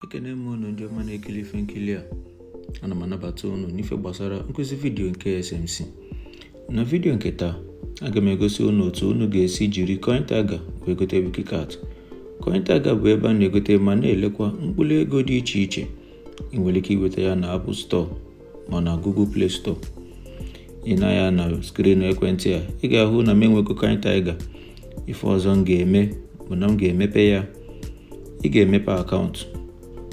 ekene m unu ndị ọma na-ekili ife nkili a ana m anabata unu n'ife gbasara nkụzi vidiyo nke SMC na vidiyo nke taa aga m egosi unu otu unu ga-esi jiri CoinTiger wee gote Wiki Cat CoinTiger bụ ebe a na-egote ma na-elekwa mkpụrụ ego dị iche iche ị nwere ike iweta ya na Apple Store ma na Google Play Store i nee anya na screen ekwentị a ị ga-ahụ na m enwego CoinTiger ife ọzọ m ga-eme bụ na m ga-emepe ya ị ga-emepe akaụntụ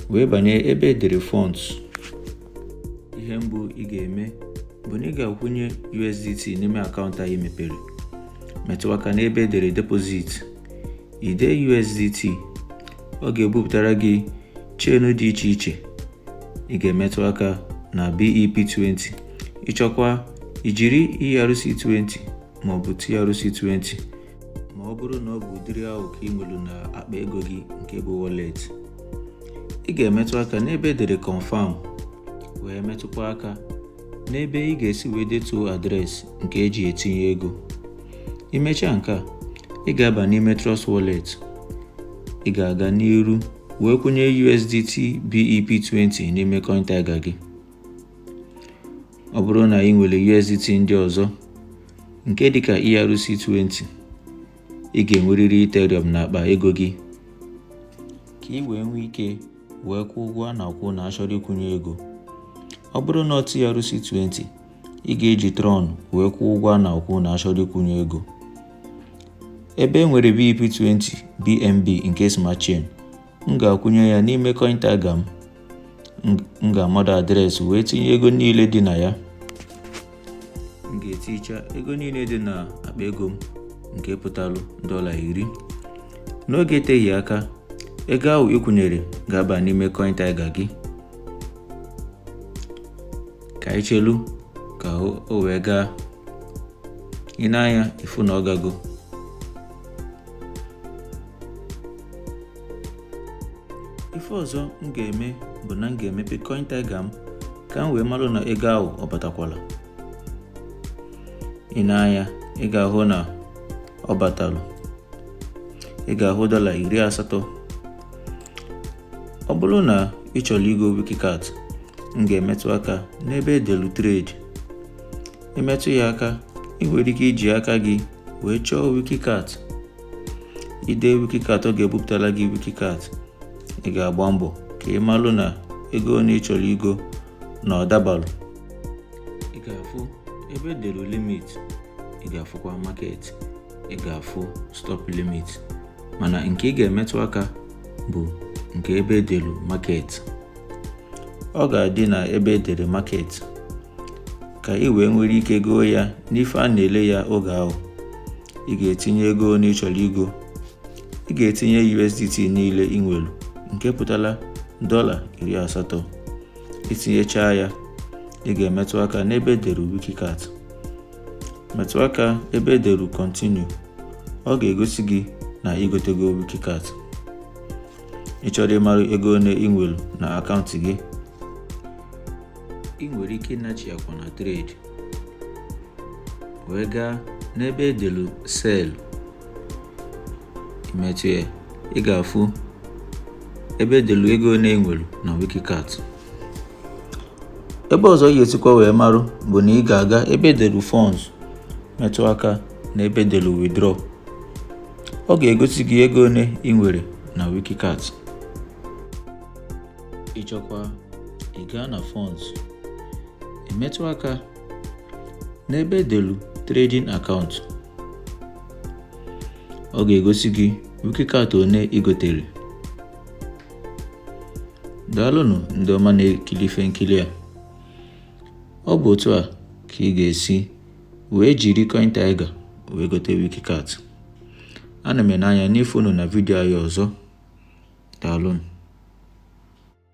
wee banye ebe edere funds ihe mbụ ị ga-eme bụ na ị ga-akwụnye USDT n'ime akaụntụ anyị mepere metụ aka n'ebe edere deposit i dee USDT ọ ga-ebupụtara gị chain dị iche iche ị ga-emetụ aka na BEP20 ị chọkwa ijiri ERC20 maọbụ TRC20 ma ọ bụrụ na ọ bụ ụdịrị ahụ ka ị nwere na akpa ego gị nke bụ wallet ị ga-emetụ aka n'ebe edere confirm wee metụkwa aka n'ebe ị ga-esi wee detuo adreesị nke eji etinye ego i mechaa nke a ị ga-aba n'ime Trust Wallet ị ga-aga n'iru wee kwụnye USDT BEP20 n'ime CoinTiger gị ọ bụrụ na ị nwere USDT ndị ọzọ nke dịka ERC20 ị ga-enwerịrị Ethereum n'akpa ego gị ka ị wee nwee ike wee kwụọ ụgwọ a na-akwụ na achọrọ ịkwụnye ego ọ bụrụ na ọ TRC20 ị ga-eji Tron wee kwụọ ụgwọ a na-akwụ na achọrọ ịkwụnye ego ebe e nwere BEP20 BNB nke Smart Chain m ga-akwụnye ya n'ime CoinTiger m m ga-amado adreesị wee tinye ego niile dị na ya m ga-eticha ego niile dị na akpa ego m nke pụtalụ dọla iri n'oge eteghị aka ego ahụ ị kwụnyere ga-aba n'ime CoinTiger gị ka anyị chelu ka o wee gaa i nee anya ị fụ na ọ gago ife ọzọ m ga-eme bụ na m ga-emepe CoinTiger m ka m wee malụ na ego ahụ ọ batakwala i nee anya ị ga-ahụ na ọ batalụ ị ga-ahụ dọla iri asatọ ọ bụrụ na ị chọrọ igo Wiki Cat m ga-emetụ aka n'ebe edelu trade ị metụ ya aka ị nwere ike iji aka gị wee chọọ Wiki Cat ide wikikat ọ ga-ebupụtara gị wikikat ị ga-agba mbọ ka ị malụ na ego one ị chọrọ igo na ọ dabalụ ị ga-afụ ebe edelu limit ị ga-afụkwa market ị ga-afụ stop limit mana nke ị ga-emetụ aka bụ nke ebe edelu market ọ ga-adị na ebe edere market ka ị wee nwere ike goo ya n'ife a na-ele ya oge ahụ ị ga-etinye ego one ị chọrọ igo ị ga-etinye USDT niile ị nwere nke pụtara dọla iri asatọ itinyechaa ya ị ga-emetụ aka n'ebe edere wikikat metụ aka ebe edere continue ọ ga-egosi gị na igotego wikikat ị chọrọ ịmara ego one ị nwere na akaụntụ gị ị nwere ike ịnachi akwa na trade wee gaa n'ebe edelu sell imetụ ya ị ga-afụ ebe edelu ego one ị nwere na wikikat ebe ọzọ ị ga-esikwa wee marụ bụ na ị ga-aga ebe edelu funds metụ aka na ebe edelu withdraw ọ ga-egosi gị ego one ị nwere na wikikat ịchọkwa ị gaa na funds emetụ aka n'ebe edelu trading account ọ ga-egosi gị wikikat one ị gotere daalụnụ ndị ọma na-ekiri ife nkili a ọ bụ otu a ka ị ga-esi wee jiri coin tiger wee gote wikikat ana m ene anya n'ịfụ unu na vidio anyị ọzọ daalụnụ